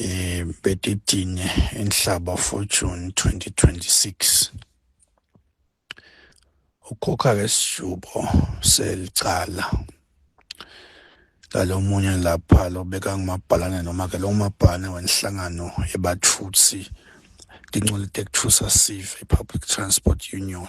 um betitine inhlaba for june 2026 ukhokha ke sijubo selicala lalo munye lapha lobeka ngumabhalane noma ke lo mabhalane wenhlangano yebathutsi tincolite kuthusa sive public transport union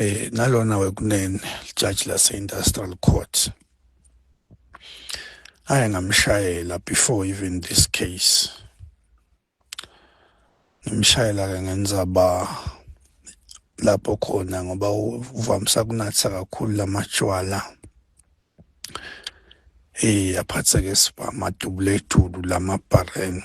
eh nalona wekunene judge lase industrial court aye ngamshayela before even this case ngimshayela ke ngenza ba lapho khona ngoba uvamisa kunatha kakhulu lamatshwala eh aphatheke siba madubletulu lamabhareni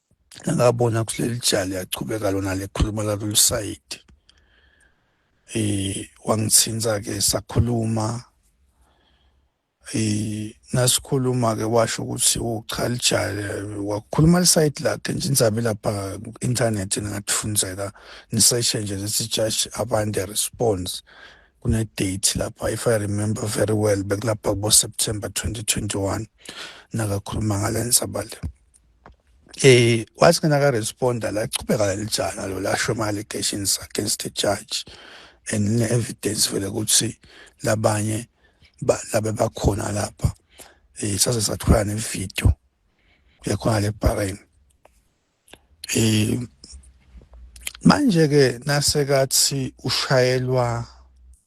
ngabona kuleli jali yachubeka lona lekhuluma lalolu sayidi eh wangithinta ke sakhuluma eh nasikhuluma ke washo ukuthi uchalijale oh, wakhuluma lisayidi lakhe nje inzabe lapha internet ningathifunzela niseshe nje lesi judge abande response kune date lapha if i remember very well bekulapha kubo September 2021 nakakhuluma ngalenza bale eh wathi ngena ka responder la chubeka lelijana lo lasho ama allegations against the judge and ne evidence vele ukuthi labanye labe bakhona lapha eh sase sathola ne video yakhona le Bahrain eh manje ke nasekathi ushayelwa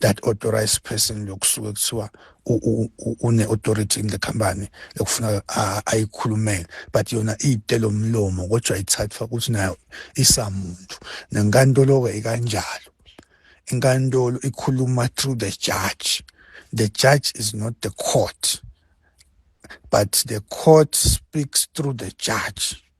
that authorized person lokusuke kuthiwa une authority in the company lekufuna ayikhulumele but yona iyitelo mlomo kodwa ithathwa ukuthi nayo isamuntu nenkantolo ke ikanjalo inkantolo ikhuluma through the judge the judge is not the court but the court speaks through the judge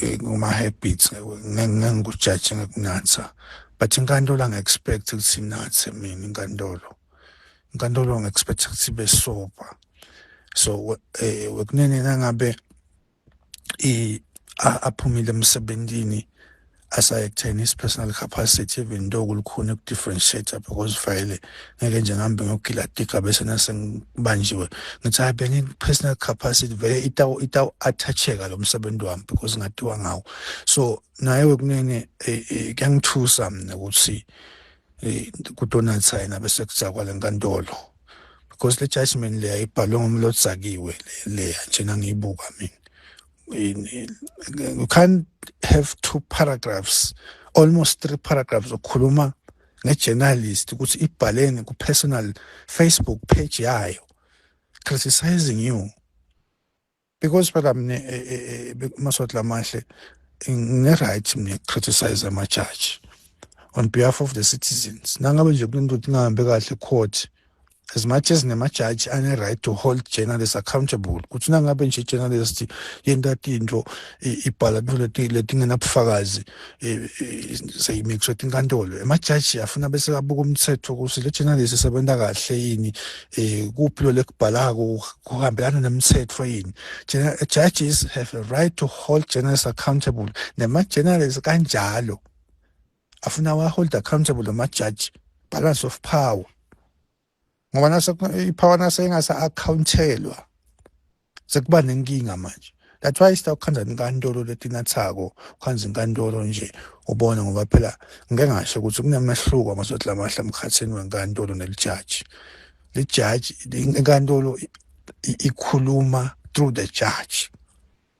eh, nguma-habits ngengikujaje ngekunatha but inkantolo angi-expect ukuthi inathe mina inkantolo inkantolo ngi-expect ukuthi ibe sober so um wekunene nangabe aphumile emsebenzini asayektheni his personal capacity even though kulukhuni uku-differentiate-a because vele ngeke nje ngihambe ngiyogila tika bese nase ngibanjiwe ngithi hayi bengi-personal capacity vele itawu-athacheka lo msebenzi wami because ngatiwa ngawo so naye wekunene eh, eh, kuyangithusa mina ukuthi eh, kudonatha yena bese kudzakwa le nkantolo because le judgment leya ibhalwe ngomlo odzakiwe leya njena ngiyibuka mina you can't have two paragraphs almost three paragraphs okhuluma ngejournalist ukuthi ibhaleni ku personal Facebook page yayo criticizing you because phela mina eh, eh, eh, maswati lamahle ngine-right mina criticize ama-judge on behalf of the citizens nangabe nje kunento ukuthi ingahambe kahle court as much as nemajaji ane-right to hold journalists accountable ukuthi nangabe nje i-journalist yenta tintfo ibhala tintfo letingenabufakazi seyimixwe tinkantolo emajaji afuna bese abuka umthetho ukuthi le journalist isebenza kahle yini um kuphi lo lekubhalako kuhambelana nemtsetfo yini judges have a right to hold journalists accountable nema-journalists kanjalo afuna wa hold accountable lama judge balance of power ngoba nase ipower nase ingasa accountelwa sekuba nenkinga manje that's why sita ukhanza inkantolo letinathako ukhanza inkantolo nje ubone ngoba phela ngeke ngasho ukuthi kunemehluko amasodla amahla emkhathini wenkantolo nelijaji lijaji inkantolo ikhuluma through the judge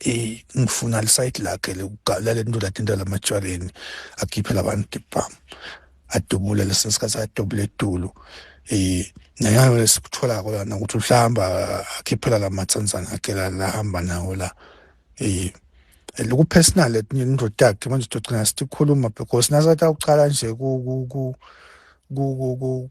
eh ngifuna lisayidi lakhe lokugalela into lathi into lamatshwaleni akhiphe labantu dibhamu adubule lesesikhathi adubule edulu eh nayo lesikuthola ko lana ukuthi uhlamba akhiphela lamatsanzana akhe la hamba nawo la eh loku personal etinye indoda yakhe manje togcina sikhuluma because nasatha ukuqala nje ku ku ku ku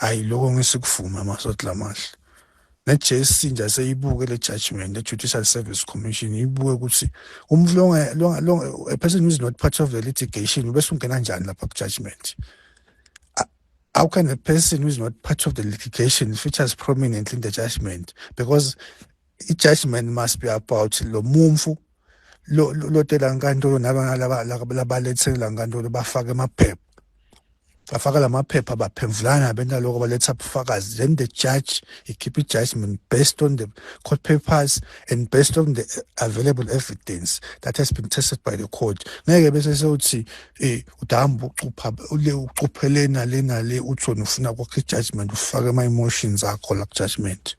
Hayi lokho ngisikuvume amasotla amahle. Ne-JSC nje aseyibuke le judgment e-Judicial Service Commission ibuke ukuthi umuntu longa longa longa a person who is not part of the litigation ubese ungena njani lapha ku-judgment. How can a person who is not part of the litigation features prominently in the judgment because i-judgment must be about lo mumfu lotela nkantolo nabalabalethelwa nkantolo bafake amaphepha bafaka la maphepha baphemvulana abantu aloko baletha ubufakazi then the judge he keep a judgment based on the court papers and based on the available evidence that has been tested by the court ngeke bese sewuthi eh udamba ucupha ule ucuphele nale nale uthona ufuna kwakhe judgment ufake ama emotions akho la judgment